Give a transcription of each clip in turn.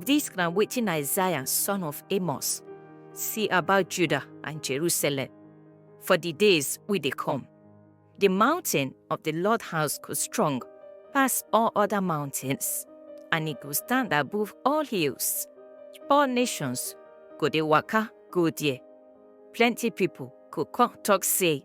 This na wetin Isaiah son of Amos see about Judah and Jerusalem for the days wey dey come. The mountain of the Lord house go strong pass all other mountains, and e go stand above all hills. All nations go dey waka go there. Plenty people go come talk say,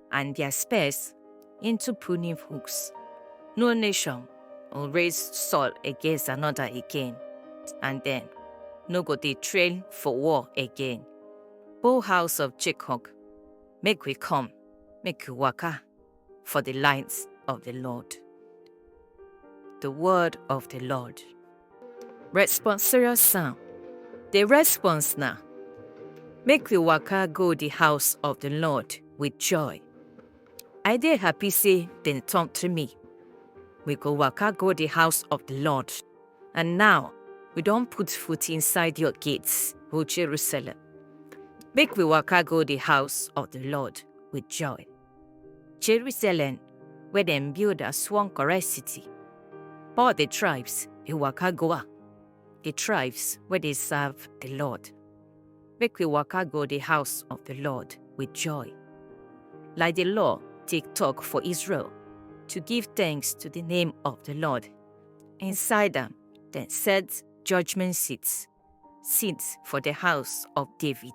and their spears into pruning hooks. No nation will raise sword against another again, and then no go dey train for war again. O house of Jacob, make we come, make we waka for the lines of the Lord. The word of the Lord. Responsorious Psalm The response na Make we waka go the house of the Lord with joy. I dey happy say dem talk to me. We go waka go the house of the Lord. And now we don put foot inside your gates, O Jerusalem. Make we waka go the house of the Lord with joy. Jerusalem wey dem build as one correct city. All the tribes dey waka go am, the tribes wey dey serve the Lord. Make we waka go the house of the Lord with joy. Like the law take talk for Israel, to give thanks to the name of the Lord. Inside am, dem set judgment seats. sins for the house of David.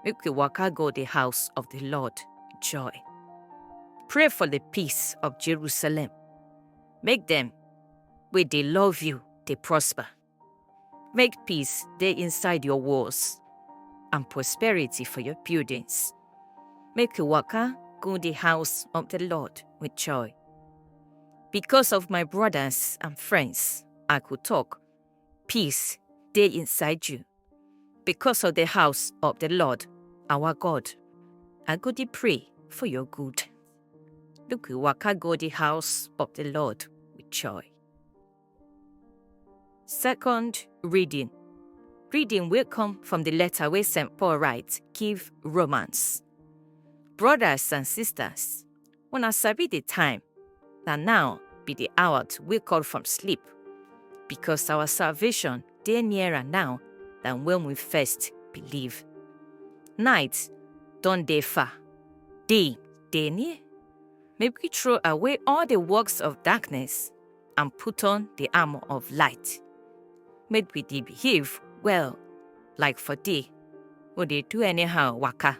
Make we waka go the house of the Lord, joy. Pray for the peace of Jerusalem. Make them, where they love you, they prosper. Make peace they inside your walls, and prosperity for your buildings. Make you waka go the house of the Lord with joy. Because of my brothers and friends, I could talk peace dey inside you. Because of the house of the Lord, our God, I go dey pray for your good. Make we waka go the house of the Lord with joy. Second reading. Reading will come from the letter where St. Paul writes, Give Romans. Brothers and sisters, Una sabi the time. Na now be the hour to wake up from sleep, because our salvation dey nearer now than when we first believe. Night don dey far, day dey near. Make we throw away all the works of darkness and put on the armor of light. Make we dey behave well, like for day, we dey do anyhow waka.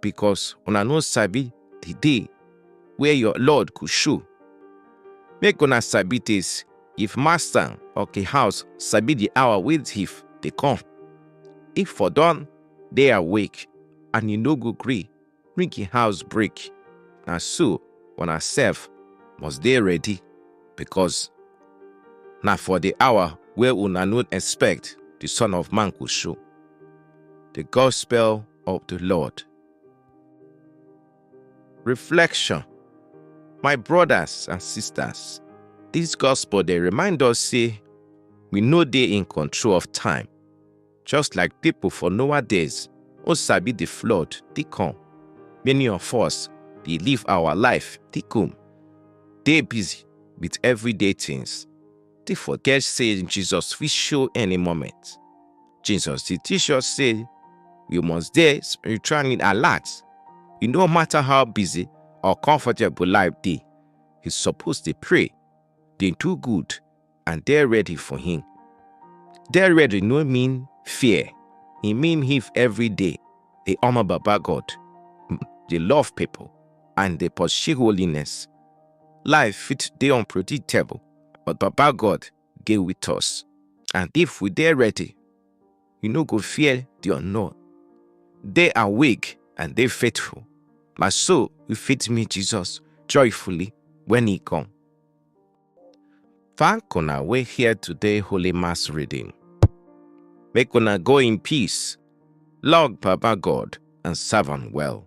because una no sabi the day where your Lord go show. Make una sabi this, if master of the house sabi the hour wey thief dey come, if for don dey awake and e no go gree make im house break, na so una sef must dey ready because na for the hour where una no expect the Son of Man go show. The Gospel of the Lord. Reflection My brothers and sisters, this gospel they remind us say we know they in control of time. Just like people for Noah days, o sabi the flood, they come. Many of us they live our life, they come. They busy with everyday things. dey forget say Jesus fit show any moment. Jesus dey teach us say we must dey spiritually alert. E no matter how busy or comfortable life dey, we suppose dey pray, dey do good, and dey ready for Him. Dey ready no mean fear, e mean if every day dey honor Baba God, dey love people, and dey pursue holiness. Life fit dey unpredictable, but Baba God dey with us. And if we dey ready, we no go fear the unknown. Dey awake and dey faithful. Na so we fit meet Jesus joyfully when he come. Thank una wey hear today Holy Mass reading. Make una go in peace, love Baba God and serve am well.